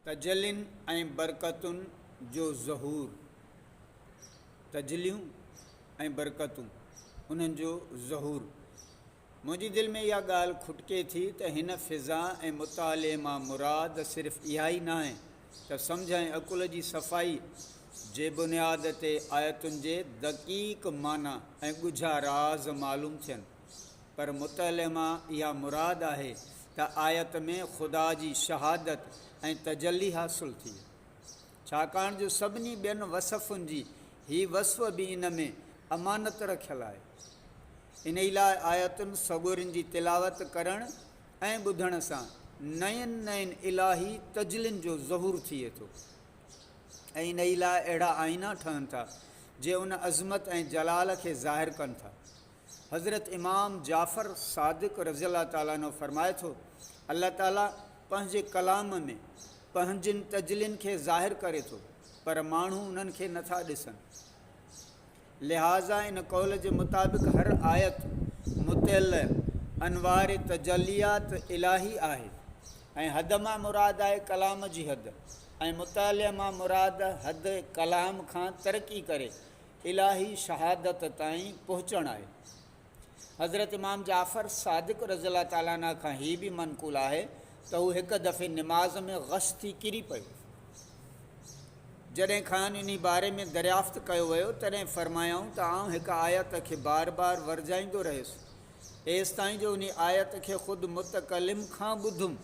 تجلين ۽ برڪتن جو ظهور، تجليون ۽ برڪتون، انهن جو ظهور. منهنجي دل ۾ اها ڳالهه کٽڪي ٿي ته هن فضا ۽ مطالعي مان مراد صرف اها ئي ناهي ته سمجهه ۽ عقل جي صفائي جي بنياد تي آيتن جي دقيق معنيٰ ۽ ڳجها راز معلوم ٿين، پر مطالع مان اها مراد آهي ته آيت ۾ خدا جي شهادت ۽ تجلي حاصل ٿئي، ڇاڪاڻ جو سڀني ٻين وصفن جي هي وصف به ان ۾ امانت رکيل آهي. انهي لاء آيتن سڳورين جي تلاوت ڪرڻ ۽ ٻڌڻ سان نين نين الاهي تجلين جو ظهور ٿئي ٿو ۽ انهي لاء اهڙا آئينا ٺهن ٿا، جي ان عظمت ۽ جلال کي ظاهر ڪن ٿا. حضرت امام جعفر صادق رضي الله تعالٰي عنه فرمائي ٿو، الله تعالٰي پنهنجي ڪلام ۾ پنهنجين تجلين کي ظاهر ڪري ٿو پر ماڻهو انهن کي نٿا ڏسن. لهٰذا ان قول جي مطابق هر آيت مطلع انوار تجليات الاهي آهي ۽ حد مان مراد آهي ڪلام جي حد ۽ مطلع مان مراد حد ڪلام کان ترقي ڪري الاھي شھادت تائين پهچڻ آهي. حضرت امام جعفر صادق رضي الله تعالٰي عنه کان هي به منقول آهي ته هو هڪ دفعي نماز ۾ غش ٿي ڪري پيو. جڏهن کانئن انهي باري ۾ دريافت ڪيو ويو تڏهن فرمايائون ته آئون هڪ آيت کي بار بار ورجائيندو رهيس ايستائين جو انهي آيت کي خود متڪلم کان ٻڌم.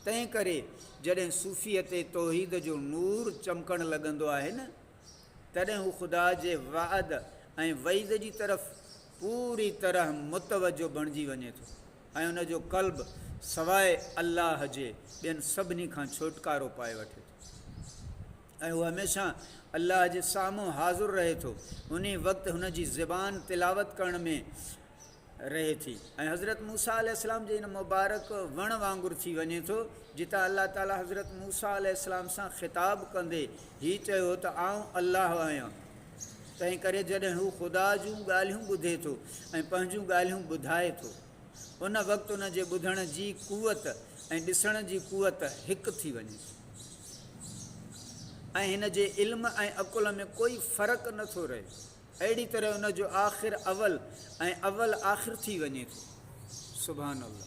تنهن ڪري جڏهن صوفيء تي توحيد جو نور چمڪڻ لڳندو آهي نه! تڏهن هو خدا جي وعد ۽ وعيد جي طرف پوري طرح متوجه بڻجي وڃي ٿو ۽ ان جو قلب سواء الله جي ٻين سڀني کان ڇوٽڪارو پائي وٺي ٿو ۽ هو هميشه الله جي سامهون حاضر رهي ٿو انهي وقت هن جي زبان تلاوت ڪرڻ ۾ رهي ٿي ۽ حضرت موسيٰ عليه السلام جي ان مبارڪ وڻ وانگر ٿي وڃي ٿو جتان الله تعالي حضرت موسيٰ عليه السلام سان خطاب ڪندي هي چيو ته آئون الله آهيان تنهن ڪري جڏهن هو خدا جون ڳالهيون ٻڌي ٿو ۽ پنهنجون ڳالهيون ٻڌائي ٿو ان وقت ان جي ٻڌڻ جي قوت ۽ ڏسڻ جي قوت هڪ ٿي وڃي ٿي ۽ هن جي علم ۽ عقل ۾ ڪوئي فرق نٿو رهي اهڙي طرح ان جو آخر اول ۽ اول آخر ٿي وڃي ٿو. سبحان الله.